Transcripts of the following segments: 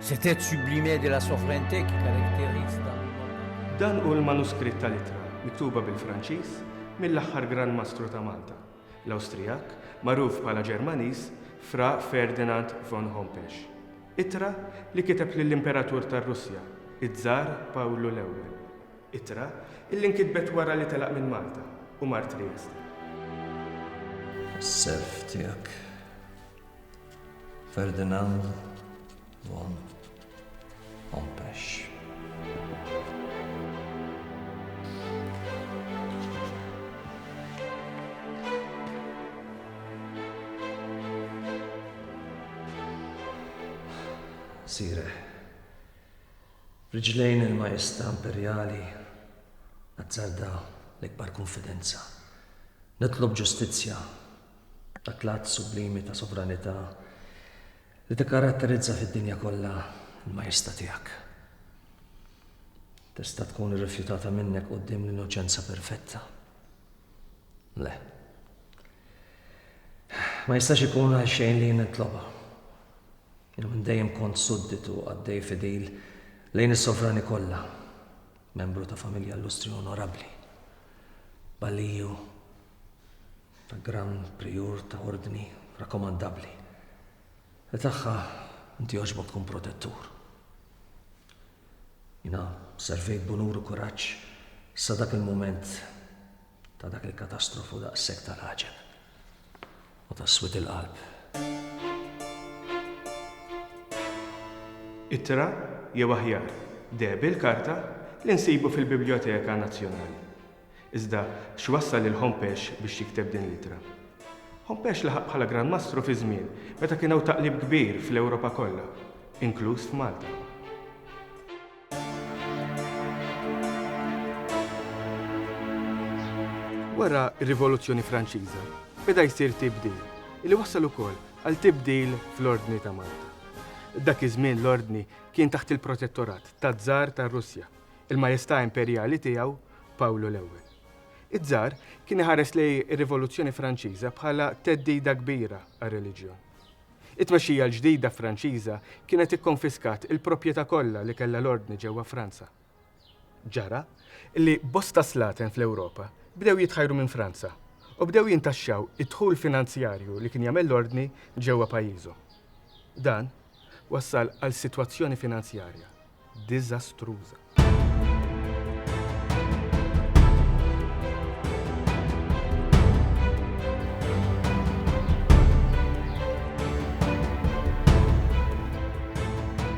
Cet être sublime de la souveraineté qui caractérise Dan hu l-manuskritt tal-ittra miktuba bil-Franċiż mill-aħħar Gran Mastru ta' Malta, l-Awstrijak, magħruf bħala Ġermaniż, Fra Ferdinand von Hompesch. Ittra li kiteb lill-Imperatur tar-Russja, iż-Żar Pawlu l-Ewwel. Ittra illi nkitbet wara li telaq minn Malta u mar Trieste. Is-self tiegħek. Ferdinand von Hompesch. Sire, riġlejn il-Majesta Imperjali, azzarda l-ikbar konfidenza. Nitlob ġustizzja Dak l-att sublimi ta' sovranità li tikkaratterizza fid-dinja kollha l-majesta tiegħek. Tista' tkun irrifjutata minnek quddiem l-innoċenza perfetta. Le. Ma jistax ikun għal xejn li nitloba. Jien minn dejjem kont sudditu għaddej fidil lejn is-sovrani kollha, membru ta' familja illustri onorabbli. Balliju ta' Gran Prijur ta' Ordni rakkomandabbli li tagħha inti jogħġbok tkun protettur. Jiena servejt b'unur u kuraġġ sa dak il-mument ta' dak il-katastrofu daqshekk tal-għaġeb u ta' swid il-qalb. Ittra, jew aħjar, deheb il-karta, li nsibu fil-Bibljoteka Nazzjonali. Iżda x'wassal lil Hompesch biex jikteb din l-ittra? Hompesch laħaq bħala Gran Mastru fi żmien meta kien hawn taqlib kbir fl-Ewropa kollha, inkluż f'Malta. Wara r-Rivoluzzjoni Franċiża, beda jsir tibdil, li wassal ukoll għal tibdil fl-Ordni ta' Malta. Dak iż-żmien l-Ordni kien taħt il-protettorat taż-Żar tar-Russja, il-Majestà Imperjali tiegħu Pawlu l-Ewwel. Iż-Żar kien iħares lejn ir-Rivoluzzjoni Franċiża bħala theddida kbira għar-reliġjon. It-tmexxija l-ġdida Franċiża kienet ikkonfiskat il-proprjetà kollha li kellha l-Ordni ġewwa Franza. Ġara li bosta slaten fl-Ewropa bdew jitħajru minn Franza u bdew jintaxxaw id-dħul finanzjarju li kien jagħmel l-Ordni ġewwa pajjiżhom. Dan wassal għal sitwazzjoni finanzjarja diżastruża.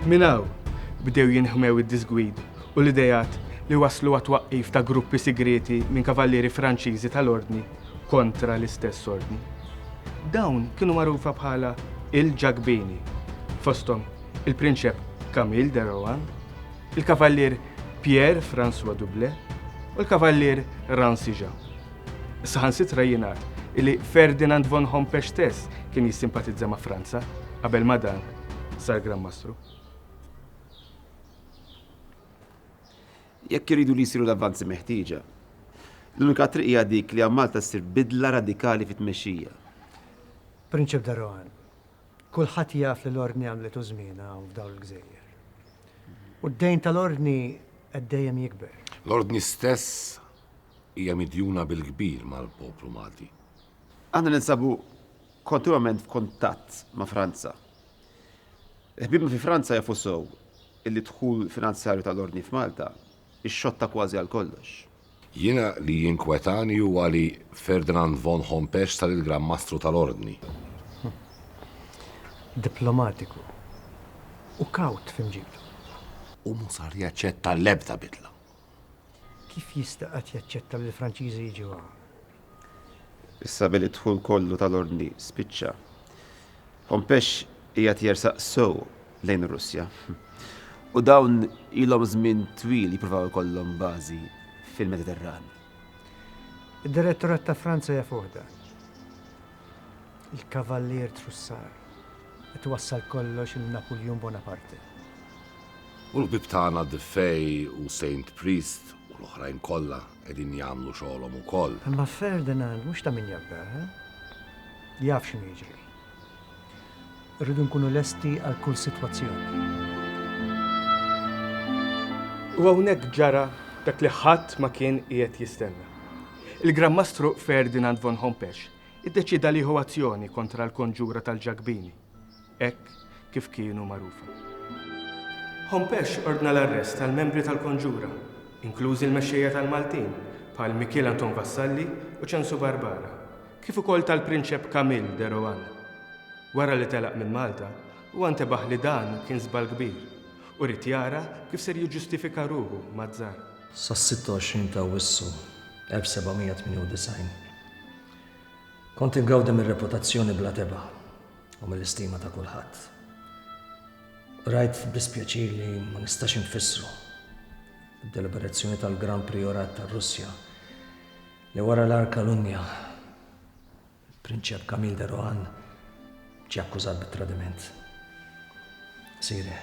Minn hawn bdew jinħmew id-diżgwid u l-ideat li wasslu għat-twaqqif ta' gruppi sigrieti minn kavallieri Franċiżi tal-Ordni kontra l-istess Ordni. Dawn kienu magħrufa bħala il-Ġakbini, fosthom il-Prinċep Camille de Rohan, il-Kavallier Pierre François Doublet u l-Kavallier Rancy Jean. Saħansitra jingħad illi Ferdinand von Hompesch stess kien jissimpatizza ma' Franza qabel ma dan sar Gran Mastru. jekk iridu li jsiru l-avvanzi meħtieġa. L-unika triq hija dik li għal Malta ssir bidla radikali fit-tmexxija. Prinċep de Rohan, Kulħadd jaf li l-Ordni għamlitu żmienha hawn f'dawn il-gżejjer. U d-dejn tal-Ordni qed dejjem jikber. L-Ordni stess hija midjuna bil-kbir mal-poplu Malti. Aħna ninsabu kontinwament f'kuntatt ma' Franza. Ħbiebna fi Franza jafu sew illi d-dħul finanzjarju tal-Ordni f'Malta Ix-xotta kważi għal kollox. Jiena li jinkwetani huwa li Ferdinand von Hompesch sar il-Gran Mastru tal-Ordni. Diplomatiku u kawt f'imġibtu. U mhu sar jaċċetta l-ebda bidla. Kif jista' qatt jaċċetta li l-Franċiżi jiġu hawn? Issa billi d-dħul kollu tal-Ordni spiċċa, Hompesch qiegħed jersaq sew lejn ir-Russja. U dawn ilhom żmien twil jippruvaw ikollhom bażi fil-Mediterran. Id-Direttorat ta' Franza jafuh dan. Il-Kavallier Trussar qed iwassal kollox lil Napuljun Bonaparte. U l-ħbieb tagħna Dufay u Saint Priest u l-oħrajn kollha qegħdin jagħmlu xogħolhom ukoll. Imma Ferdinand mhux ta' min jabda, eh? Jaf x'inhu jiġri. Irridu nkunu lesti għal kull sitwazzjoni. U hawnhekk ġara dak li ħadd ma kien qiegħed jistenna. Il-Gran Mastru Ferdinand von Hompesch iddeċieda li jieħu azzjoni kontra l-konġura tal-Ġakbini, hekk kif kienu magħrufa. Hompesch ordna l-arrest tal-membri tal-konġura, inklużi l-mexxejja tal-Maltin bħal Mikiel Anton Vassalli u Ċensu Barbara, kif ukoll tal-Prinċep Camille de Rohan. Wara li telaq minn Malta, huwa ntebaħ li dan kien żball kbir u ried jara kif ser jiġġustifika ruħu maz-Zar. Sas-26 ta' Awwissu 1798, kont ingawdi mir-reputazzjoni bla tebgħa u mill-istima ta' kulħadd. Rajt b'dispjaċir li ma nistax infissru d-deliberazzjoni tal-Gran Prijorat tar-Russja, li wara l-Arka Lunja, il-Prinċep Camille de Rohan ġie akkużat bit-tradiment. Siri,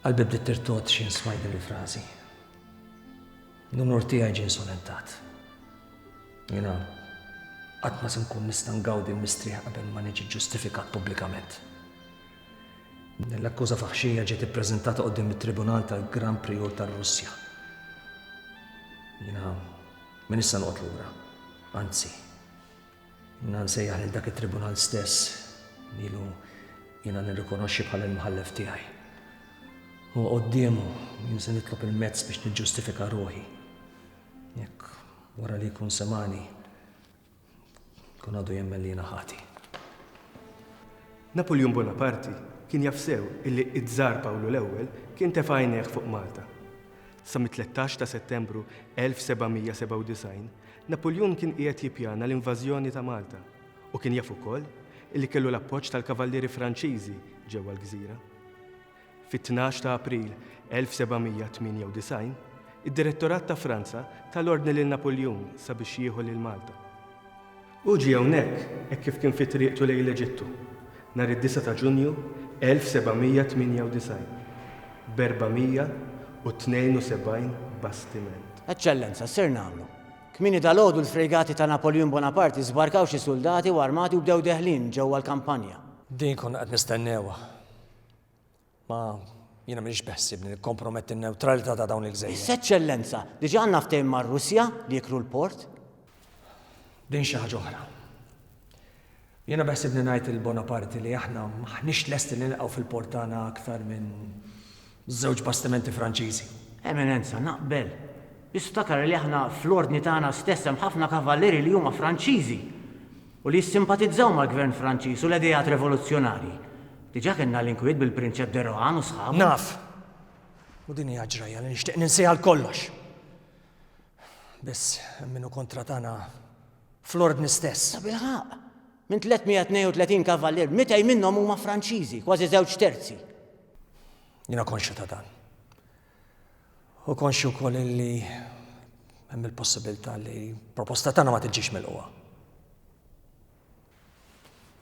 qalbi bdiet tirtod xi nsmajt din il-frażi. L-unur tiegħi ġie insolentat. Jiena qatt ma se nkun nista' ngawdi l-mistrieħ qabel ma niġi ġustifikat pubblikament. L-akkuża faħxija ġiet ippreżentata quddiem it-Tribunal tal-Gran Prijur tar-Russja. Jiena minn issa noqgħod lura. Anzi, jiena nsejjaħ lil dak it-tribunal stess lilu jiena nirrikonoxxi bħala l-mħallef tiegħi. U qoddiemu jien se nitlob il-mezz biex niġġustifika ruħi. Jekk wara li jkun semani, Kun għadu jemmen li jiena ħati. Napoleon Bonaparte kien jaf sew illi id-Żar Pawlu l-Ewwel kien tefa' għajnejh fuq Malta. Sa mit-13 ta' Settembru 1797, Napoleon kien qiegħed jippjana l-invażjoni ta' Malta u kien jaf ukoll illi kellu l-appoġġ tal-kavallieri Franċiżi ġewwa l-gżira. Fit-tnax ta' April 1798, id-Direttorat ta' Franza ta l-ordni lil Napuljun sabiex jieħu lil Malta. Hu ġie hawnhekk hekk kif kien fi triqtu lejn l-Eġittu, nhar id-disgħa ta' Ġunju 1798, b'472 bastiment. Eċċellenza, ser nagħmlu. Kmieni dalgħodu l-frejgati ta' Napoljun Bonaparte żbarkaw xi suldati u armati u bdew deħlin ġewwa l-kampanja. Din konna qed nistennewha. Ma jiena m'iniex beħsibni nikkomprometti n-newtralità ta' dawn il-gżejjer. Iżda Eċċellenza, diġà għandna ftehim mar-Russja li jikru l-port. Din xi ħaġa oħra. Jiena beħsibni ngħid lil Bonaparte li aħna m'aħniex lesti li nilqgħu fil-port tagħna aktar minn żewġ bastimenti Franċiżi. Eminenza, naqbel. Biss ftakar li aħna fl-Ordni tagħna stess hemm ħafna kavallieri li huma Franċiżi. u li jissimpatizzaw mal-Gvern Franċiż u l-ideat revoluzzjonarji. Diġà kellna l-inkwiet bil-Prinċep de Rohan u sħabu. Naf. U din hi ġrajja li nixtieq ninsiha għal kollox. Biss hemm min hu kontra tagħna fl-Ordni stess. Tabilħaqq! Minn 332 kavallier, 200 minnhom huma Franċiżi, kważi żewġ terzi. Jiena konxju ta' dan. Hu konxju wkoll illi hemm il-possibilità li proposta tagħna ma tiġix milquha.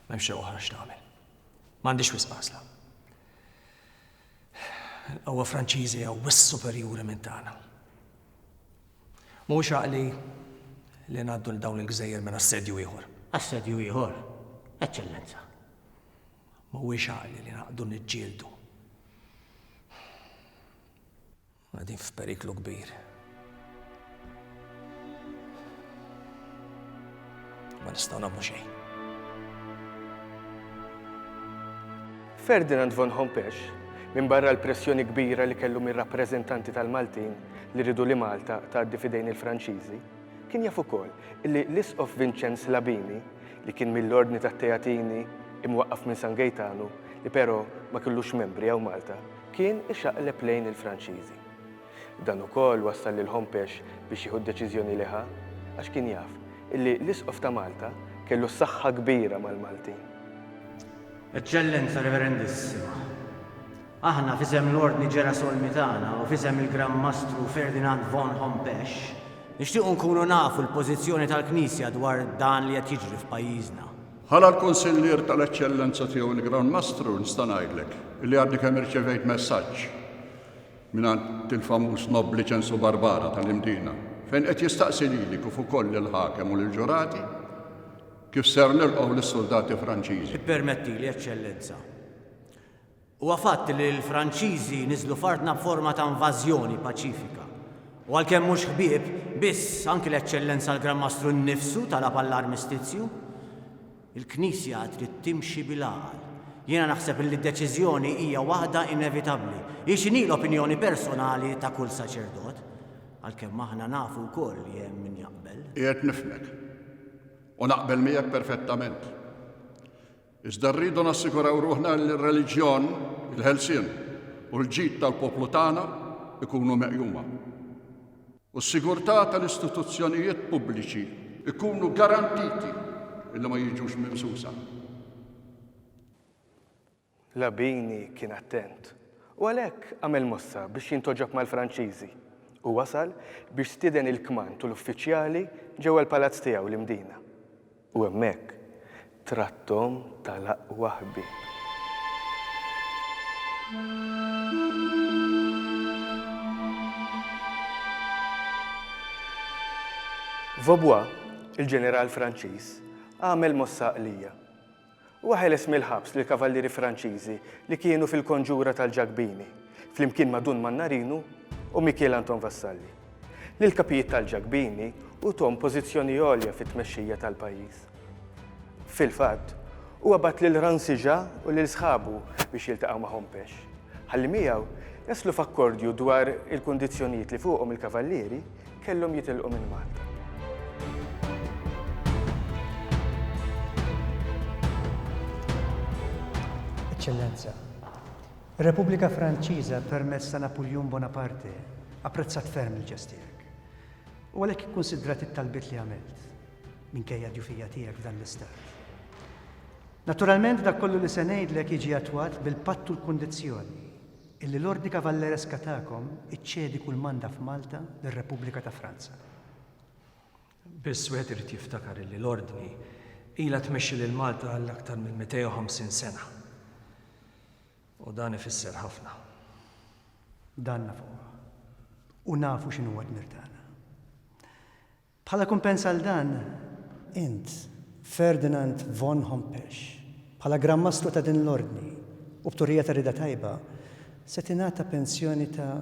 M'hemm xi oħra x'tagħmel. M'għandix wisq għażla. Il-qawwa Franċiżi hija wis superjuri minn tagħna. Mhuwiex għaqli li ngħaddu l dawn il-gżejjer minn assedju ieħor. Assedju ieħor, Eċċellenza. Mhuwiex għaqli li naqgħdu niġġieldu. Qegħdin f'periklu kbir. Ma nistgħu nagħmlu xejn. Ferdinand von Hompesch, minn barra l-pressjoni kbira li kellu mir-rappreżentanti tal-Maltin li ridu li Malta tgħaddi fidejn il-Franċiżi, Kien jaf ukoll li l-Isqof Vinċenz Labini, li kien mill-Ordni tat-Teatini, imwaqqaf minn San Gejtanu, li però ma kellux membri hawn Malta, kien ixaqleb lejn il-Franċiżi. Dan ukoll wassal lil Hompesch biex jieħu d-deċiżjoni li ħa, għax kien jaf li l-Isqof ta' Malta kellu saħħa kbira mal-Maltin. Eċċellenza Reverendissima, Aħna, f'isem l-Ordni Ġerasolmitana u f'isem il-Gran Mastru Ferdinand von Hompesch, nixtiequ nkunu nafu l-pożizzjoni tal-Knisja dwar dan li qed jiġri f'pajjiżna. Bħala l-Kunsillier tal-Eċċellenza Tiegħu l-Gran Mastru nista' ngħidlek li għadni kemm irċevejt messaġġ mingħand il-famuż Nob Liċensu Barbara tal-Imdina fejn qed jistaqsi lili kif ukoll lill-Ħakem u lill-Ġurati kif ser nilqgħu lis-suldati Franċiżi. Ippermettili, Eċċellenza, Huwa fatt li l-Franċiżi niżlu f'artna b'forma ta' invażjoni paċifika. U għalkemm mhux ħbieb, biss anki l-Eċċellenza l-Gran Mastru nnifsu talab għall-armistizju. Il-Knisja trid timxi bil-għaqal. Jiena naħseb li d-deċiżjoni hija waħda inevitabbli. Hi x'inhi l-opinjoni personali ta' kull saċerdot. Għalkemm aħna nafu wkoll li hemm min jaqbel. Qiegħed nifhmek. U naqbel miegħek perfettament. Iżda rridu nassiguraw ruħna li r-reliġjon, il-ħelsien u l-ġid tal-poplu tagħna jkunu meqjuma. U s-sigurtà tal-istituzzjonijiet pubbliċi jkunu garantiti li ma jiġux mimsusa. Labini kien attent u għalhekk għamel mossa biex jintoġob mal-Franċiżi u wasal biex stieden il-kmand u l-uffiċjali ġewwa l-palazz tiegħu l-Imdina. U hemmhekk tratthom tal-aqwa ħbieb. Vaubois, il-ġeneral Franċiż, għamel mossa għaqlija. Huwa ħeles mill-ħabs lill-kavallieri Franċiżi li kienu fil-konġura tal-Ġakbini, flimkien ma' Dun Mannarinu u Mikiel Anton Vassalli. Lill-kapijiet tal-Ġakbini uthom pożizzjoni għolja fit-tmexxija tal-pajjiż. Fil-fatt, huwa bagħat lil Rancijà u lil sħabu biex jiltaqgħu ma' Hompesch, ħalli miegħu jaslu f'akkordju dwar il-kundizzjonijiet li fuqhom il-kavallieri, kellhom jitilqu minn Malta. Eċċellenza, Ir-Repubblika Franċiża permezz ta' Napuljun Bonaparte apprezzat ferm il-ġest tiegħek u għalhekk ikkunsidrat it-talbiet li għamilt minkejja d-djufija tiegħek f'dan l-istat. Naturalment dak kollu li se ngħidlek jiġi attwat bil-patt u l-kundizzjoni Illi l-Ordni Kavallereska tagħkom iċċedi kull manda f'Malta lir-Repubblika ta' Franza. Biss wieħed irid jiftakar illi l-Ordni ilha tmexxi lil Malta għal aktar minn 250 sena. U dan ifisser ħafna. Dan nafuh. U nafu x'inhu d-dmir tagħna. Bħala kumpens għal dan, int, Ferdinand von Hompesch, bħala Gran Mastru ta' din l-Ordni, u b'turija ta' rieda tajba, se tingħata pensjoni ta'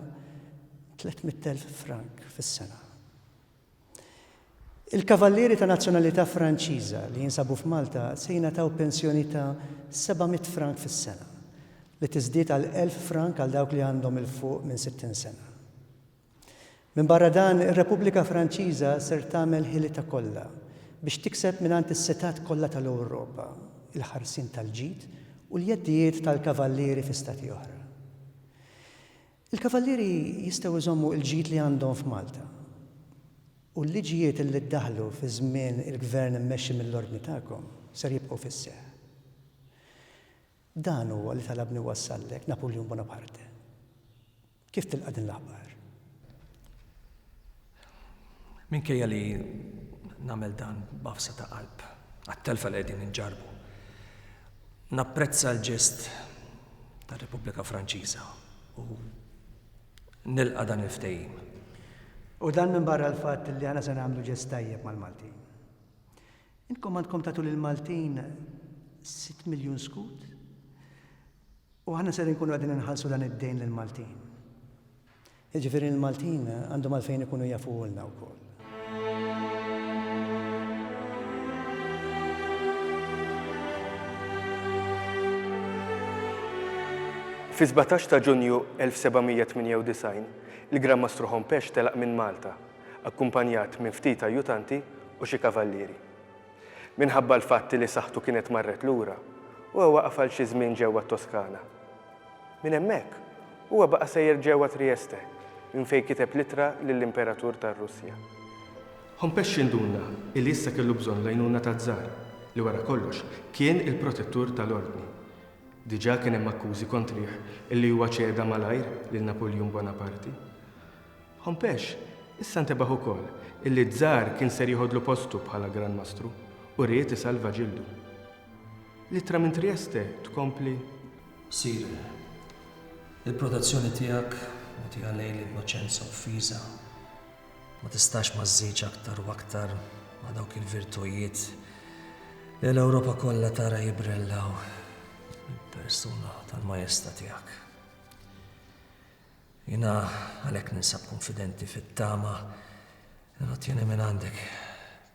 tliet mitt elf frank fis-sena. Il-Kavallieri ta' nazzjonalità Franċiża li jinsabu f'Malta se jingħataw pensjoni ta' seba' mitt frank fis-sena, li tiżdied għal elf frank għal dawk li għandhom 'il fuq minn sittin sena. Minbarra dan, ir-Repubblika Franċiża ser tagħmel ħilitha kollha biex tikseb mingħand is-setgħat kollha tal-Ewropa il-ħarsien tal-ġid u l-jeddijiet tal-kavallieri fi Stati oħra. Il-kavallieri jistgħu jżommu l-ġid li għandhom f'Malta. U l-liġijiet li ddaħħlu fi żmien il-Gvern immexxi mill-Ordni tagħkom ser jibqgħu fis-seħħ. Dan huwa li talabni wassallek Napoleon Bonaparte. Kif tilqa' din l-aħbar? Minkejja li nagħmel dan b'għafsa ta' qalb għat-telfa li qegħdin inġarrbu, napprezza l-ġest tar-Repubblika Franċiża u nilqa' dan il-ftehim. U dan minbarra l-fatt li aħna se nagħmlu ġest tajjeb mal-Maltin. Intkom għandkom tagħtu lill-Maltin sitt miljun skut? U aħna ser inkunu qegħdin inħallsu dan id-dejn lill-Maltin. Jiġifieri l-Maltin għandhom għalfejn ikunu jafuhulna wkoll. Fi 17 ta' Ġunju 1798, il-Gran Mastru Hompesch telaq minn Malta, akkumpanjat minn ftit ajjutanti u xi kavallieri. Minħabba l-fatt li saħħtu kienet marret lura, huwa waqaf għal xi żmien ġewwa t-Toskana. Minn hemmhekk, huwa baqa' sejjer ġewwa Trieste, minn fejn kiteb l-ittra lill-Imperatur tar-Russja. Home Pesci nduna li issa kellu bżonn l-għajnuna taz-Zar, li wara kollox kien il-protettur tal-Ordni. Diġà kien hemm akkużi kontrih li huwa ċeda malajr lil Napuljun Bonaparti. Hompesch issa ntebaħ ukoll illi Czar kien ser jeħodlu postu bħala Gran Mastru u ried isalva ġildu. L-ittra minn Trieste tkompli. Sire, il-protezzjoni tiegħek mogħtija lejn l-innoċenza offiża ma tistax ma żżidx aktar u aktar ma' dawk il-virtujiet li l-Ewropa kollha tara jibrellaw mill-persuna tal-Majesta tiegħek. Jiena għalhekk ninsab kunfidenti fit-tama li nottieni mingħandek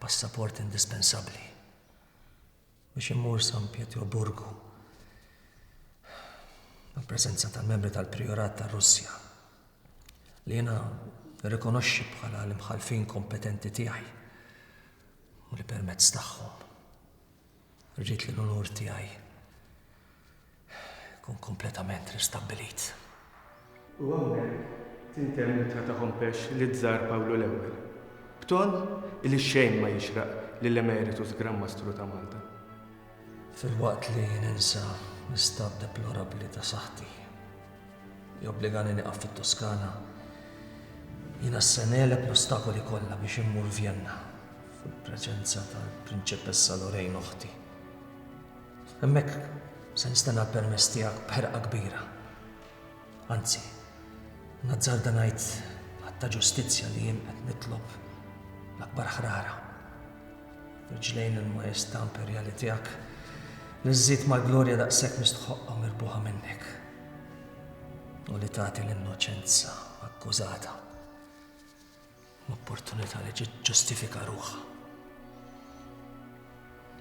passaport indispensabbli biex immur San Pietroburgu mal-preżenza tal-membri tal-Prijorat tar-Russja li jiena nirrikonoxxi bħala l-imħallfin kompetenti tiegħi u li permezz tagħhom Rrid li l-unur tiegħi jkun kompletament ristabbilit. U hawnhekk tintemm l-ittra ta' Hompesch liz-Żar Pawlu l-Ewwel, b'ton li xejn ma jixraq lill-Emeritus Gran Mastru ta' Malta. Filwaqt li ninsa l-istat deplorabbli ta' saħħti. Jobbligani nieqaf fit-Toskana. Jiena se negħleb l-ostakoli kollha biex immur Vjenna, fil-preżenza tal-Prinċepessa Lorraine oħti. Hemmhekk se nistenna l-permess tiegħek b'ħerqa kbira. Anzi, nazzarda ngħid b'att ta' ġustizzja li jien qed nitlob l-akbar ħrara. Rġlejn il-Maestà Imperjali tiegħek li żżid mal-glorja daqshekk mistħoqqa mirbuħa minnek u li tagħti l-innoċenza akkużata l-opportunità li ġustifika ruħha.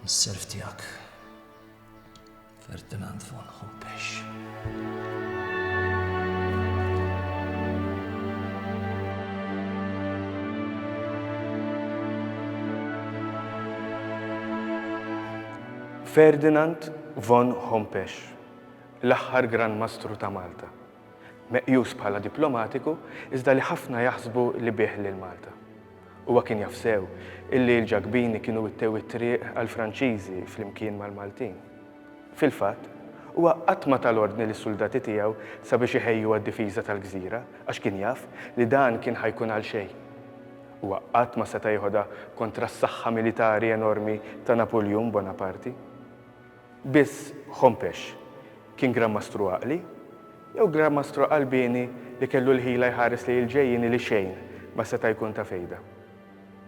Is-serv tiegħek Ferdinand von Humpesch. Ferdinand von Hompesch, l-aħħar Gran Mastru ta' Malta. Meqjus bħala diplomatiku, iżda li ħafna jaħsbu li bih lil Malta. Huwa kien jaf sew illi l-Ġakbini kienu wittew it-triq għall-Franċiżi flimkien mal-Maltin. Fil-fatt, huwa qatt ma ta l-ordni lis-suldati tiegħu sabiex iħejju għad-difiża tal-gżira għax kien jaf li dan kien ħa jkun għal xejn. Huwa qatt ma seta' jeħodha kontra s-saħħa militari enormi ta' Napuljun Bonaparti. Biss Hompesch kien Gran Mastru għaqli, jew Gran Mastru qalbieni li kellu l-ħila jħares lejn il-ġejjieni li xejn ma seta' jkun ta' fejda.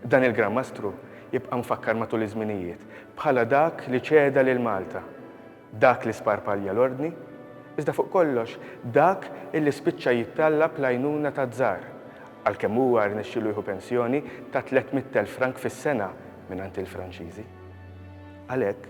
Dan il-Gran Mastru jibqa' mfakkar matul iż-żminijiet bħala dak li ċeda lil Malta, dak li sparpalja l-Ordni, iżda fuq kollox dak illi spiċċa jittallab l-għajnuna taz-Zar, għalkemm huwa rnexxielu jieħu pensjoni ta' tliet mitt elf frank fis-sena mingħand il-Franċiżi. Għalhekk,